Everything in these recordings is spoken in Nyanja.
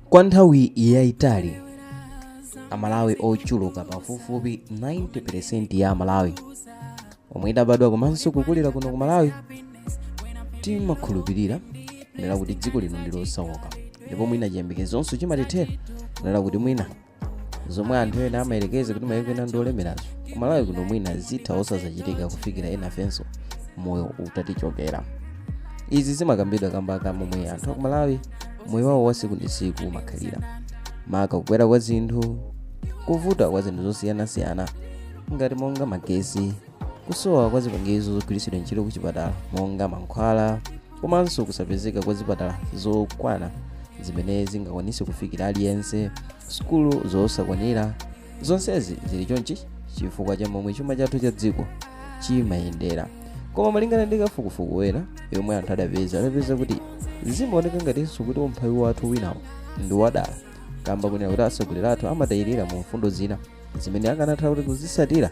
kwa nthawi yayitali amalawi ochuluka pafupifupi 90% ya amalawi omwe tidabadwa komanso kukulira kuno ku malawi timakhulupirira kunena kuti dziko lino ndi losauka ndipo mwina chiyembekezonso chimatithera kunena kuti mwina zomwe anthu ena amayerekeza kuti mayiko ena ndi olemerazo ku malawi kuno mwina zitha osazachitika kufikira enafenso moyo utatichokera izi zimakambidwa kamba ka momwe anthu aku malawi moyo wawo wa siku ndi siku umakhalira maka kukwera kwa zinthu kuvuta kwa zinthu zosiyanasiyana ngati monga magesi kusowa kwa zipangizo zogwiritsidwa ntchito kuchipatala monga mankhwala komanso kusapezeka kwa zipatala zokwana zimene zingakwanise kufikira aliyense sukulu zosakwanira zonsezi zili chonchi chifukwa cha momwe chuma chathu cha dziko chimayendera koma malingana ndi kafukufuku wina yomwe anthu adapeza adapeza kuti zimaoneka ngatinso kuti umphawi wathu winawo ndi wadala kamba konena kuti atsogoleri athu amatayirira mu mfundo zina zimene akanatha kuti kuzisatira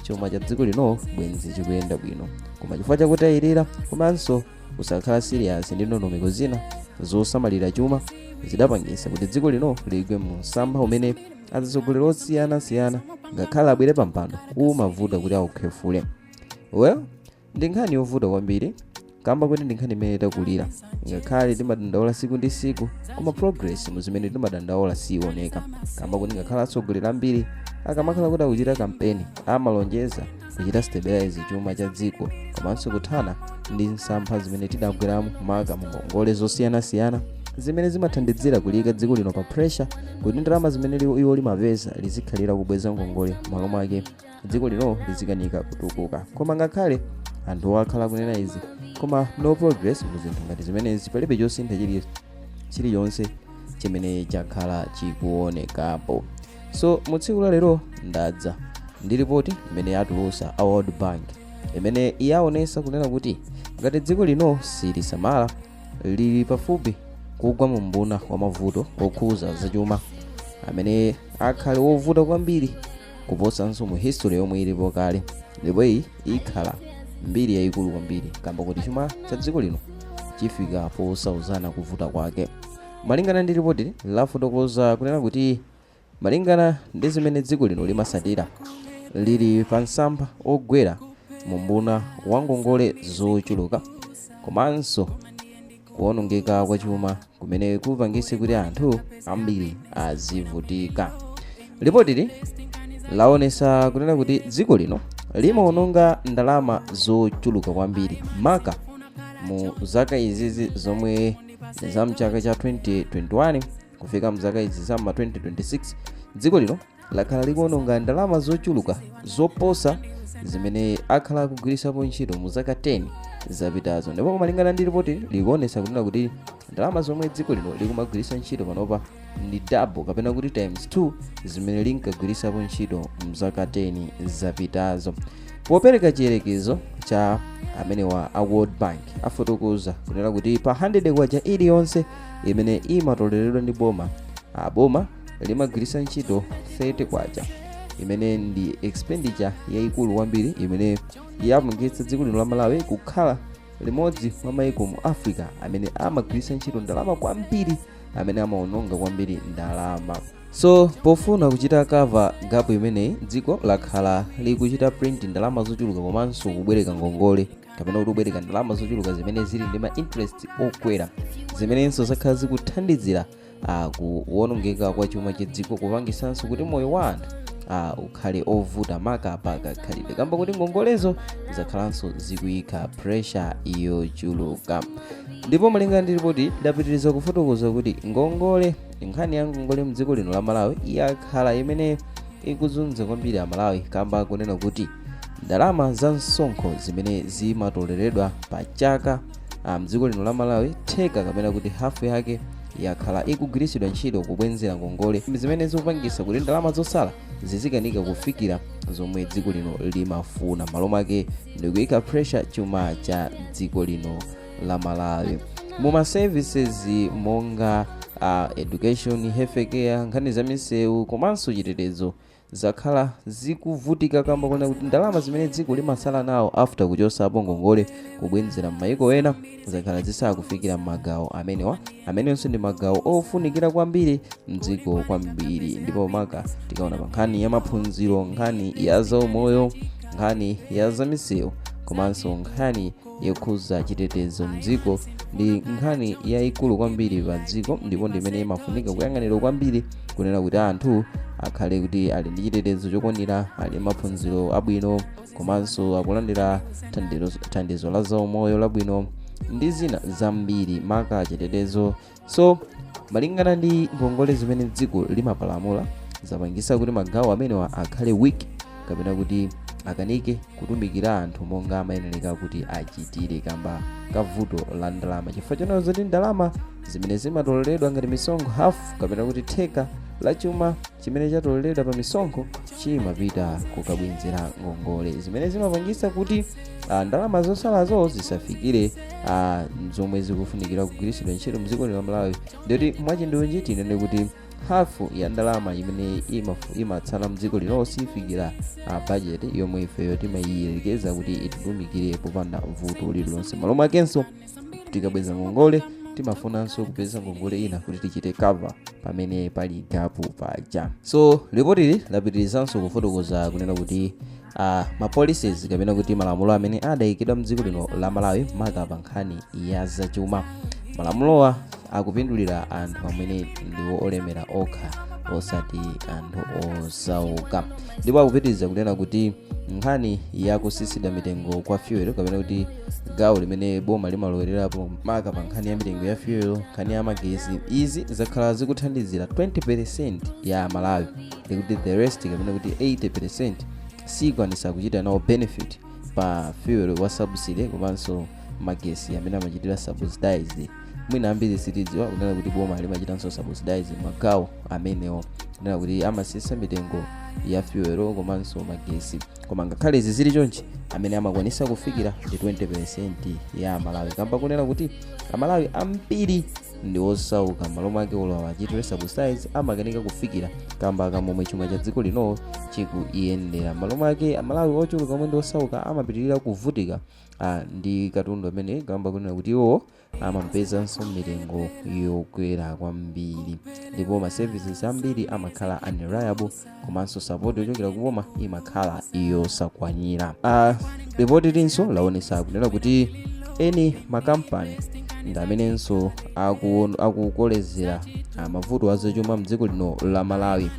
chuma cha dziko lino bwenzi chikuyenda bwino koma chifukwa chakutayirira komanso kusakhala siriyasi ndi ndondomeko zina zosamalira chuma zidapangisa kuti dziko lino ligwe mu msampha umene atsogoleri osiyanasiyana ngakhale abwere pampando kumavuta kuti aukhefule well ndi nkhani yovuta kwambiri kamba kuti ndi nkhani imene takulira ngakhale timadandaula siku ndi siku koma progress mu zimene timadandaula siioneka kamba kuti ngakhale atsogoleri ambiri akamakhala kuti akuchita kampeni amalonjeza kuchita stabilize chuma cha dziko komanso kuthana ndi msampha zimene tidagweramo maka mu ngongole zosiyanasiyana zimene zimathandizira kuliyika dziko lino pa pressure kuti ndalama zimene iwo limapeza lizikhalira kubweza ngongole malo mwake dziko lino lizikanika kutukuka koma ngakhale anthu akhala kunena izi koma no progress mu zinthu ngati zimenezi palibe chosintha chilichonse chimene chakhala chikuonekapo so mu tsiku la lero ndadza ndi ripoti imene atulusa a world bank imene yaonesa kunena kuti ngati dziko lino silisamala lili pafupi kugwa mu mbuna wa mavuto okhuza zachuma amene akhale wovuta kwambiri kuposanso mu history yomwe ilipo kale ndipo iyi ikhala mbiri yayikulu kwambiri kamba kuti chuma cha dziko lino chifika posauzana kuvuta kwake malingana ndi ripoti lafotokoza kunena kuti malingana ndi zimene dziko lino limasatira lili pa msampha ogwera mu mbuna wa ngongole zochuluka komanso kuonongeka kwa chuma kumene kupangitse kuti anthu ambiri azivutika lipotili laonesa kunena kuti dziko lino limaononga ndalama zochuluka kwambiri maka mu zaka izizi zomwe za mchaka cha 2021 kufika mzaka izi za ma 2026 dziko lino lakhala likuononga ndalama zochuluka zoposa zimene akhala kugwiritsapo ntchito mu zaka 10 zapitazo ndipo malingana ndi ripoti likuonetsa kunena kuti ndalama zomwe dziko lino likumagwiritsa ntchito panopa ndi double kapena kuti times 2 zimene linkagwiritsapo ntchito mzaka 10 zapitazo popereka chiyerekezo cha amenewa a world bank afotokoza kunena kuti pa 100 kwacha iliyonse imene imatoleredwa ndi boma aboma limagwiritsa ntchito 30 kwacha imene ndi expenditure yayikulu kwambiri imene yapangitsa dziko lino la malawi kukhala limodzi mwa mayiko mu africa amene amagwiritsa ntchito ndalama kwambiri amene amaononga kwambiri ndalama so pofuna kuchita cover gap imeneyi dziko lakhala likuchita print ndalama zochuluka komanso kubwereka ngongole kapena kuti kubwereka ndalama zochuluka zimene zili ndi ma interest okwera zimenenso zakhala zikuthandizira kuwonongeka kwa chuma cha dziko kupangisanso kuti moyo wa anthu uh, ukhale ovuta maka pa kakhalidwe kamba kuti ngongolezo zakhalanso zikuyika pressure yochuluka ndipo malinga ndi ripoti lidapitiriza kufotokoza kuti ngongole nkhani ya ngongole mdziko lino la malawi yakhala imene ikuzunza kwambiri amalawi kamba kunena kuti ndalama za msonkho zimene zimatoleredwa pa chaka Ah, mdziko lino la malawi theka kapena kuti hafu yake yakhala ikugwiritsidwa ntchito kubwenzera ngongole zimene zikupangisa kuti ndalama zosala zizikanika kufikira zomwe dziko lino limafuna m'malo mwake ndikuyika pressure chuma cha dziko lino la malawi muma services monga uh, education healthcare nkhani za misewu komanso chitetezo zakhala zikuvutika kamba konena kuti ndalama zimene dziko limasala nawo after kuchosapo ngongole kubwenzera m'mayiko ena zakhala zisakufikira m'magawo amenewa amenenso ndi magawo ofunikira kwambiri mdziko kwambiri ndipo maka tikaona pa nkhani ya maphunziro nkhani ya zaumoyo nkhani ya zamisewu komanso nkhani yokhudza chitetezo mdziko ndi nkhani yayikulu kwambiri pa dziko ndipo ndimene imafunika kuyang'anira kwambiri kunena kuti anthu akhale kuti ali ndi chitetezo chokwanira ali maphunziro abwino komanso akulandira thandizo la zaumoyo labwino ndi zina zambiri maka chitetezo so malingana ndi ngongole zimene dziko limapalamula zapangisa kuti magawo amenewa akhale weak kapena kuti akanike kutumikira anthu monga amayenereka kuti achitire kamba ka vuto la ndalama chifukwa chonena zoti ndalama zimene zimatoleredwa ngati misonkho hafu kapena kuti theka la chuma chimene chatoleredwa pa misonkho chimapita kukabwenzera ngongole zimene zimapangisa kuti ah, ndalama zosalazo zisafikire ah, zomwe zikufunikira kugwiritsidwa ntchito mdziko lino la malawi ndikuti mwachindunji tinene kuti hafu ya ndalama imene imafu- imatsala mdziko lino sifikira ah, budget yomwe ifeyo timayiyerekeza kuti ititumikire popanda vuto lililonse malo mwakenso tikabweza ngongole timafunanso kupeza ngongole ina kuti tichite cover pamene pali gapu paja so ripotili lapitirizanso kufotokoza kunena kuti uh, ah, mapolicies kapena kuti malamulo amene adayikidwa mdziko lino la malawi maka pa nkhani ya zachuma malamulowa akupindulira anthu amene ndi olemera okha osati anthu osauka ndipo akupitiriza kunena kuti nkhani yakusisidwa mitengo kwa fuel kapena kuti gawo limene boma limalowererapo maka pa nkhani ya mitengo ya fuel nkhani ya magesi izi zakhala zikuthandizira 20% ya malawi ndikuti the rest kapena kuti 80% sikwanisa kuchita nawo benefit pa fuel wa subsidy komanso magesi amene amachitira subsidize mwina ambiri sitidziwa kunena kuti boma limachitanso subsidize magawo amenewo kunena kuti amasisa mitengo ya fuel komanso magesi koma ngakhale izi zili chonchi amene amakwanisa kufikira ndi 20% ya amalawi kamba kunena kuti amalawi ambiri ndi osauka malo mwake olo awachitire subsidize amakanika kufikira kamba ka momwe chuma cha dziko lino chikuyendera malo mwake amalawi ochuluka omwe ndi osauka amapitirira kuvutika ah, ndi katundu amene kamba kunena kuti iwo amamupezanso mitengo yokwera kwambiri ndipo ma services ambiri amakhala unreliable komanso support yochokera kuboma imakhala yosakwanira uh, ripotilinso laonesa kunena kuti eni makampani ndi amenenso akuon- akukolezera ah, mavuto azachuma mdziko lino la malawi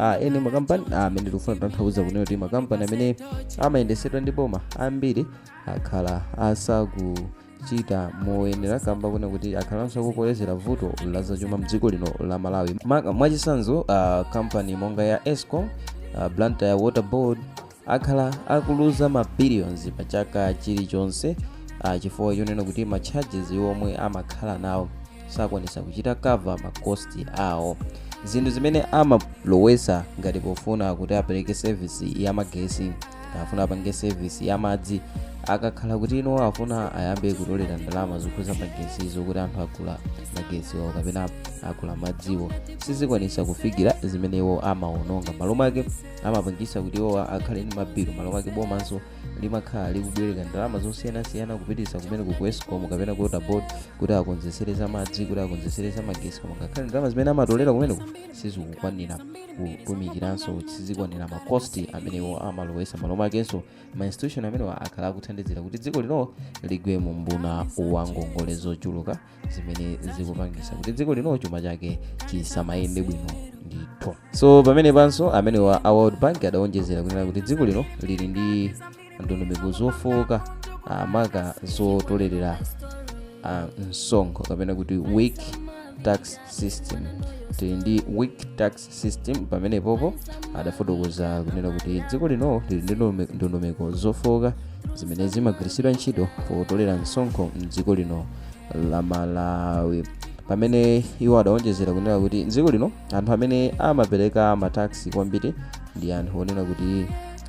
Ah, eni makampani ah, amene tikufuna kutanthauza kunena kuti makampani amene amayendesedwa ndi boma ambiri akhala asaku chita moyenera kamba kunena kuti akhalanso akukolezera vuto la zachuma mdziko lino la malawi Maka- mwachisanzo ah, kampani monga ya escom ah, blantyre water board akhala akuluza ma billions pa chaka chilichonse ah, chifukwa chonena kuti ma charges omwe amakhala nawo sakwanisa kuchita cover ma cost awo zinthu zimene amalowesa ngati pofuna kuti apereke service ya magesi afuna apange service ya madzi akakhala kuti ino afuna ayambe kutolera ndalama zokhuza magesi zokuti anthu agula magesiwo kapena agula madziwo sizikwanisa kufikira zimene iwo amaononga malo mwake amapangisa kuti iwo akhale ndi mabilu malo mwake bomanso limakhala likubwereka ndalama zosiyanasiyana kupitisa kumene ku escom kapena ku water board kuti akonzesere za madzi kuti akonzesere za magesi koma ngakhale ndalama zimene amatolera kumeneko sizikukwanira kutumikiranso sizikwanira ma cost amene iwo amalowesa malo mwakenso ma institution amenewa akhala akuthandizira kuti dziko lino ligwe mu mbuna wa ngongole zochuluka zimene zikupangisa kuti dziko lino chuma chake chisamayende bwino ndithu so pamene panso amenewa a world bank adawonjezera kunena kuti dziko lino lili ndi ndondomeko zofowoka ah, maka zotolerera ah, msonkho kapena kuti weak tax system tili ndi weak tax system pamene popo adafotokoza kunena kuti dziko lino lili ndi ndonome- ndondomeko zofowoka zimene zimagwiritsidwa ntchito potolera msonkho mdziko lino la malawi pamene iwo adawonjezera kunena kuti mdziko lino anthu amene amapereka ma tax kwambiri ndi anthu onena kuti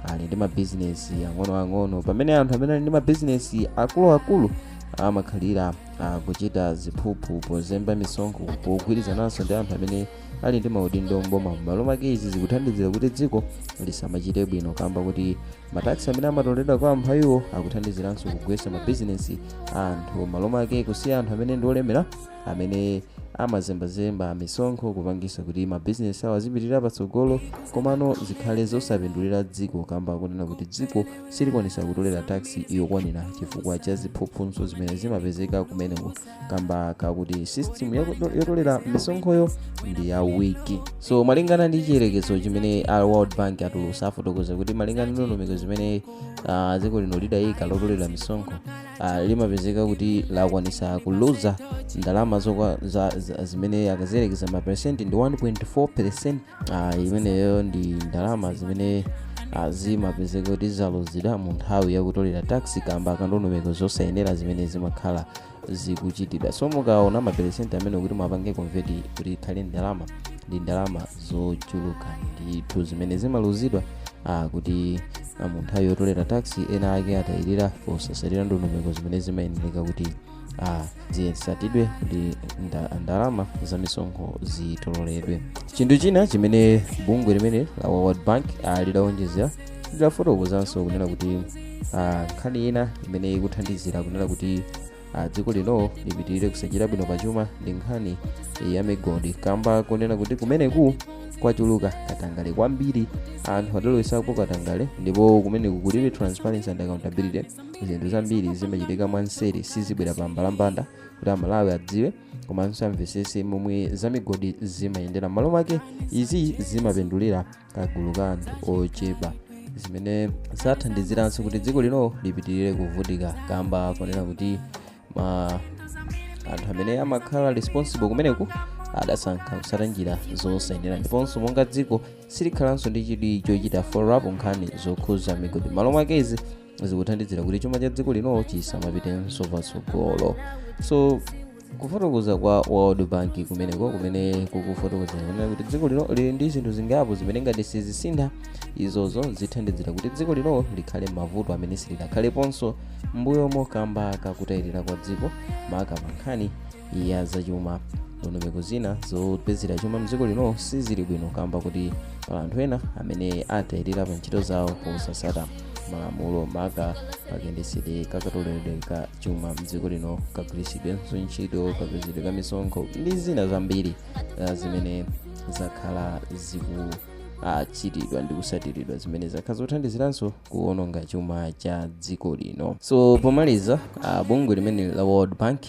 ali ndi mabizinesi ang'onoang'ono pamene anthu amene ali ndi mabizinesi akuluakulu amakhalira ah, kuchita ziphuphu pozemba misonkho pogwirizananso ndi anthu amene ali ndi maudindo mboma m'malo mwake izi zikuthandizira kuti dziko lisamachite bwino kamba kuti ma tax amene amatoleredwa kwa amphawiwo akuthandiziranso kugwetsa mabizinesi a anthu m'malo mwake kusiya anthu amene ndi olemera amene amazembazemba misonkho kupangisa kuti mabizinesi awo azipitirira patsogolo komano zikhale zosapindulira dziko kamba kunena kuti dziko silikwanisa kutolera tax yokwanira chifukwa cha ziphuphunso zimene zimapezeka kumeneko kamba kakuti system yako- yotolera misonkhoyo ndi ya weak so malingana ndi chiyerekezo chimene a world bank atulusa afotokoza kuti malingana ndi ndondomeko zimene ah, dziko lino lidayika lotolera misonkho uh, limapezeka kuti lakwanisa kuluza ndalama zokwa za, za, zimene akaziyerekeza maperesenti ndi 1.4 percent uh, imeneyo ndi ndalama zimene uh, zimapezeka kuti zaluzidwa mu nthawi yakutolera tax kamba kandondomeko zosayenera zimene zimakhala zikuchitidwa so mukaona maperesenti amene kuti muwapange convert kuti ikhale ndalama ndi ndalama zochuluka ndithu zimene zimaluzidwa uh, kuti Ah, mu nthawi yotolera tax ena ake atayirira posasatira ndondomeko zimene zimayenereka kuti ah, zisatidwe ndi nda- ndalama za misonkho zitoleredwe chinthu china chimene bungwe limeneli la world bank ah, lidawonjezera lidafotokozanso kunena kuti ah, nkhani ina imene ikuthandizira kunena kuti a dziko lino lipitirire kusachita bwino pachuma ndi nkhani ya migodi kamba kunena kuti kumeneku kwachuluka katangale kwambiri anthu adalowesapo katangale ndipo kumeneku kulibe transparency and accountability zinthu zambiri zimachitika mwanseri sizibwera pa mbalambanda kuti amalawi adziwe komanso amvesese momwe za migodi zimayendera m'malo mwake izi zimapindulira kagulu ka anthu ochepa zimene zathandiziranso kuti dziko lino lipitirire kuvutika kamba kunena kuti ma anthu amene amakhala responsible kumeneku adasankha kusata njira zosayenera ndiponso monga dziko silikhalanso ndi chidwi chochita follow up nkhani zokhuza migodi malo mwake izi zikuthandizira kuti chuma cha dziko lino chisamapitenso patsogolo so kufotokoza kwa world bank kumeneko kumene kukufotokoza kunena kuti dziko lino lili ndi zinthu zingapo zimene ngati sizisintha izozo zithandizira kuti dziko lino likhale mavuto amene silidakhaleponso mbuyomo kamba kakutayirira kwa dziko maka pankhani ya zachuma ndondomeko zina zopezera chuma mdziko lino sizili bwino kamba kuti pali anthu ena amene atayirira pa ntchito zawo posasata malamulo maka pakayendetsedwe kakatoleredwe ka chuma mdziko lino kagwiritsidwenso ntchito kapezedwe ka misonkho ndi zina zambiri uh, zimene zakhala zikuchitidwa ndi kusatiridwa zimene zakhala zothandiziranso kuononga chuma cha dziko lino. So pomaliza, uh, bungwe limene la World Bank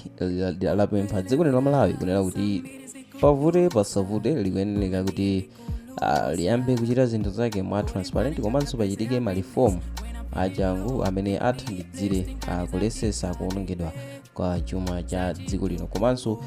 lapempha dziko lino la Malawi kunena kuti pavute pasavute likuyeneleka kuti uh, liyambe kuchita zinthu zake mwa transparent komanso pachitike malifomu achangu amene athandizire uh, kulesesa kuonongedwa kwa chuma cha dziko lino komanso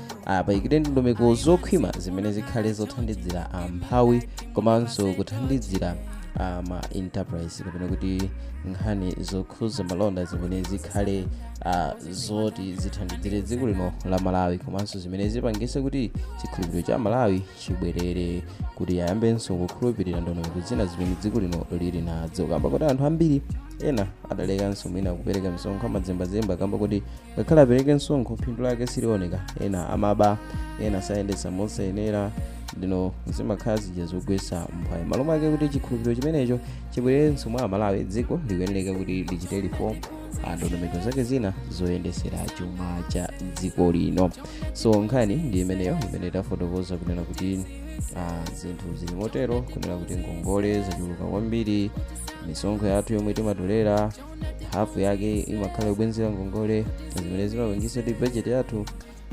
payikidwe ndondomeko zokhwima zimene zikhale zothandizira amphawi komanso kuthandizira uh, ma enterprise kapena kuti nkhani zokhuza malonda zimene zikhale uh, zoti zithandizire dziko lino la malawi komanso zimene zipangise kuti chikhulupiriro cha amalawi chibwerere kuti ayambenso kukhulupirira ndondomeko zina zimene dziko lino lili nazo kamba kuti anthu ambiri ena adalekanso mwina kupereka msonkho amazembazemba kamba kuti ngakhale apereke msonkho phindu lake silioneka ena amaba ena amayendetsa mosayenera ndino zimakhala zija zogwetsa mphwayi malo mwake kuti chikhulupiriro chimenecho chibwererenso mwa amalawi dziko likuyenereka kuti lichite reform ndondomeko zake zina zoyendetsera chuma cha dziko lino so nkhani ndi imeneyo imene tafotokoza kunena kuti ah, zinthu zili motero kunena kuti ngongole zachuluka kwambiri misonkho yathu yomwe timatolera hafu yake imakhala yobwenzera ngongole zimene zimapangisa kuti bajeti yathu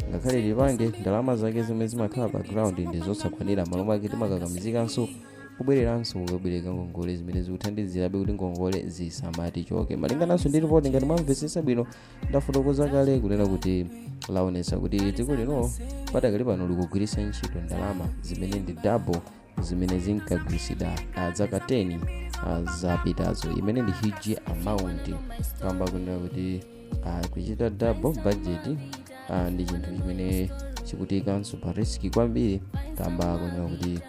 ngakhale tipange ndalama zake zomwe zimakhala pa ground ndi zosakwanira m'malo mwake timakakamizikanso kubwereranso kukabwereka ngongole zimene zikuthandizirabe kuti ngongole zisamatichoke malingananso ndi ripoti ngati mwamvetsetsa bwino ndafotokoza kale kunena kuti laonetsa kuti dziko lino padakali pano likugwiritsa ntchito ndalama zimene ndi double zimene zinkagwiritsidwa ah, zaka 10 ah, zapitazo imene ndi huge amount kamba kunena kuti ah, kuchita double budget ah, ndi chinthu chimene chikutiikanso pa risk kwambiri kamba kunena kuti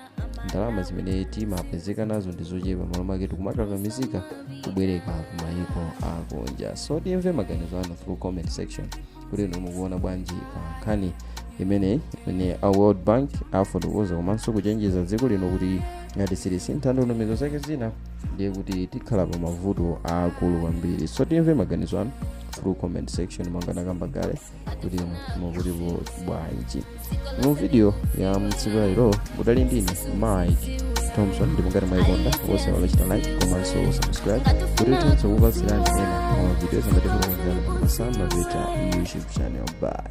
ndalama zimene timapezeka nazo ndi zochepa m'malo make tikumakakamizika kubwereka kumayiko akunja so timve maganizo anu through comment section kuti inu mukuona bwanji pa nkhani imeneyi imene a world bank afotokoza komanso kuchenjeza dziko lino kuti ngati silisintha ndondomeko zake zina ndiye kuti tikhala pa mavuto aakulu kwambiri so timve maganizo anu through comment section monga ndakamba kale kuti inu mukutipo bwanji mu video ya mtsiku la lero mudali ndine mike thompson ndipo ngati mwayikonda osaiwala kuchita like komanso subscribe kuti tizikupatsirani ena ma video zangati kulokonzerani pa masamba peta youtube channel bye